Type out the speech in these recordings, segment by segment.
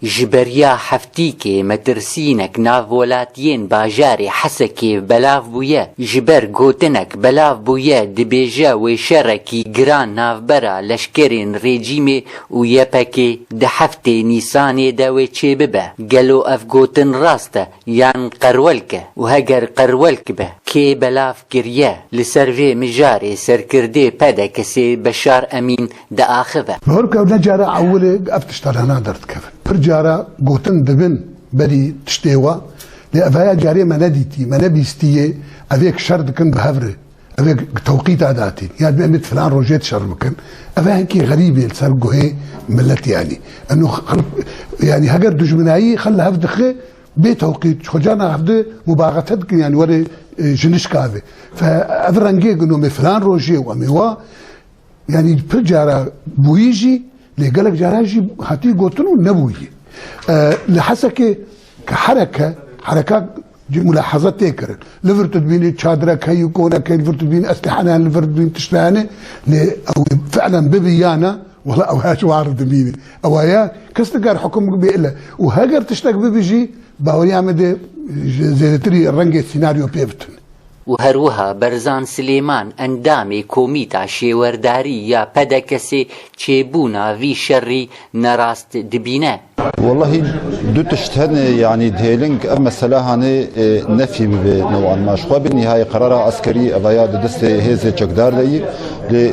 Ji beriya heftîkê metirsînek nav welatiyên bajarê Hesekê belav bûye. Ji ber gotinek belav bûye dibêje wê şerekî giran navbera leşkerên rejîmê û YPK'ê di heftê Nîsanê de wê çêbibe. Gelo ev gotin rast e? Yan qerwelk e û heger qerwelk be kê belav kiriye li ser vê mijarê serkirdê PDK'sê Beşar Emîn diaxive. Li hor kewne cara ewilê ev tiştanana derdikevin. Pir cara gotin dibin berî tiştê wa lê evaya carê me nedîtî, me nebîstî yê ev yek şer dikin bi hev re. Ev ê tewqîta datîn ya divê em ê di filan rojê de şer bikin. Ev e hinkî xerîbê li ser guhê milet yanî. Eno yanî heger dijminayî xwe li hev dixe bê tewqît xwe carna hev di mubagete dikin yanî were jinişka ve. Fe ev rengê gino me filan rojê û em ê wa Yani pir cara bûyî jî lê gelek caran jî hatî gotin û nebûyî. Li Hesekê ke hereke hereka cî mulaheze tê kirin. Li vir tu dibînî çadrek heyî konek heyî li vir tu dibînî estihane hene li vir dibînî tişt hene lê ew fi'len bibî ya ne wala ew her war dibînî. Ewa ye kes nikar hukum bê ile û heger tiştek bibî jî bawerîya me dê zêdetirî rengê sînaryo pê bitin. û herwiha Berzan Silêman endamê Komîta Şêwerdarî ya PDK'sê çêbûna vî şerî nerast dibîne. Wellahî du tişt hene yanî dihêlin ev mesele hanê nefî bibe newan ma ji xwe bi nîhayê qerara eskerî eva ya di destê hêzê çekdar de yî lê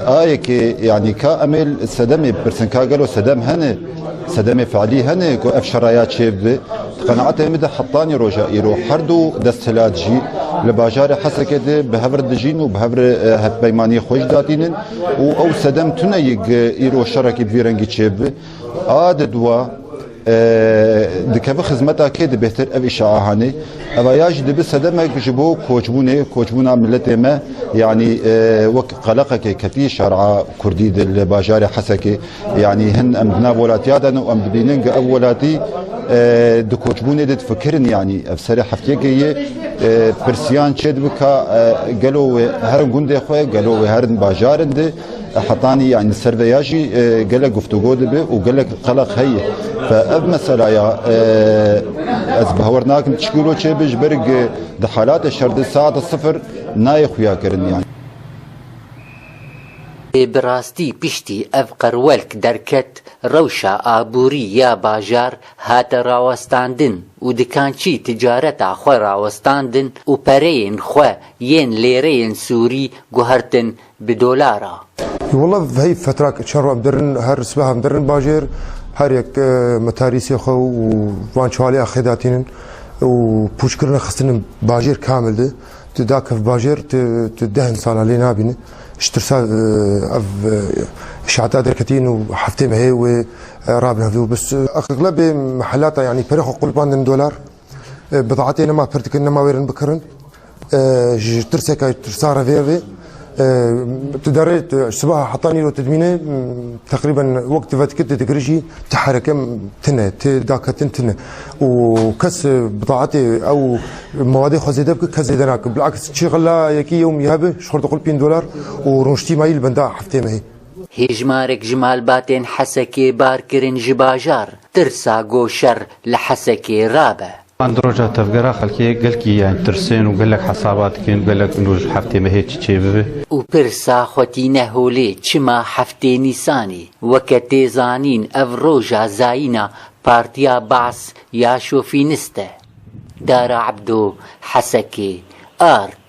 a yekê yanî ka em ê li sedemê bipirsin ka gelo sedem hene? Sedemê feilî hene ku ev şera ya çêbibe. Di qenaetê min de heptanî roja îro her du desthilat jî li bajarê Hesekê de bi hev re dijîn û bi hev re hevpeymaniyê xwe jî datînin û ew sedem tune ye ku îro şerekî bi vî rengî çêbibe. A di duwa dikeve xizmeta kê di bêhtir ev îşa a hanê. Eva ya jî dibe sedemek ji bo koçbûnê, koçbûna miletê me yanî wek qeleqekê ketî şera kurdî li bajarê Hesekê. Yanî hin em di nav welatiya de ne û em dibînin ku ev welatî e, di koçbûnê de difikirin yanî ev serê heftiyekê yê e, pirsiyan çê dibi ka e, gelo wê herin gundê xwe gelo wê herin bajarin de e, hetanî yanî ser vê ya jî e, gelek guftûgo dibi û gelek qeleq heye fe ev meselaya e, ez bi hewer nakim çi kîlo çê bi ji ber ku di halatê şer de saeta sifir nayê xuya kirin yanî Ê bi rastî piştî ev qirwelk derket rewşa aborî ya bajar hate rawestandin û dikançî ticareta xwe rawestandin û pereyên xwe yên lêreyên sûrî guhertin bi dolar a. Walla heyv fetra ke çar roj dirin her sibehan dirin bajêr her yek metarîsê xwe û van çaliya xê datînin û pûçkirine xistinin bajêr kamil di. Tu da kev bajêr tu tu dehn sala lê nabîni. Ji tirsa ev şata derketîn û heftê me hê wê rabin hevdî û bis. Eqlebê mehelata yanî pere xwe qulbandin dolar. Bidatê nema pir dikin nema wêrin bikirin. Ji tirseka tirsa revê rê. Ti derê sibaha heta nîro ti dimîne teqrîben wek ti vetkir ti digir jî ti hereke tine ti daketin tine û kes bi taetê ew mawadê xwe zêde bike kes zêde nake bilaks çi xila yekî yewm ya bi ji xwe diqul pîn dolar û rûniştî mayî li benda heftê mehê. Hejmarek ji malbatên Hesekê barkirin ji bajar, tirsa goşer li Hesekê rabe. Van di roja tevgera xelkê gelkî yani tirsên û gelek hesaba dikin gelek û ji heftê mehê çi çê bibe. Û pirsa xwe tîne holê çima heftê nîsanî weke tê zanîn ev roja zayîna partiya Baas ya şofînist e. Dara Ebdo, Hesekê, ark.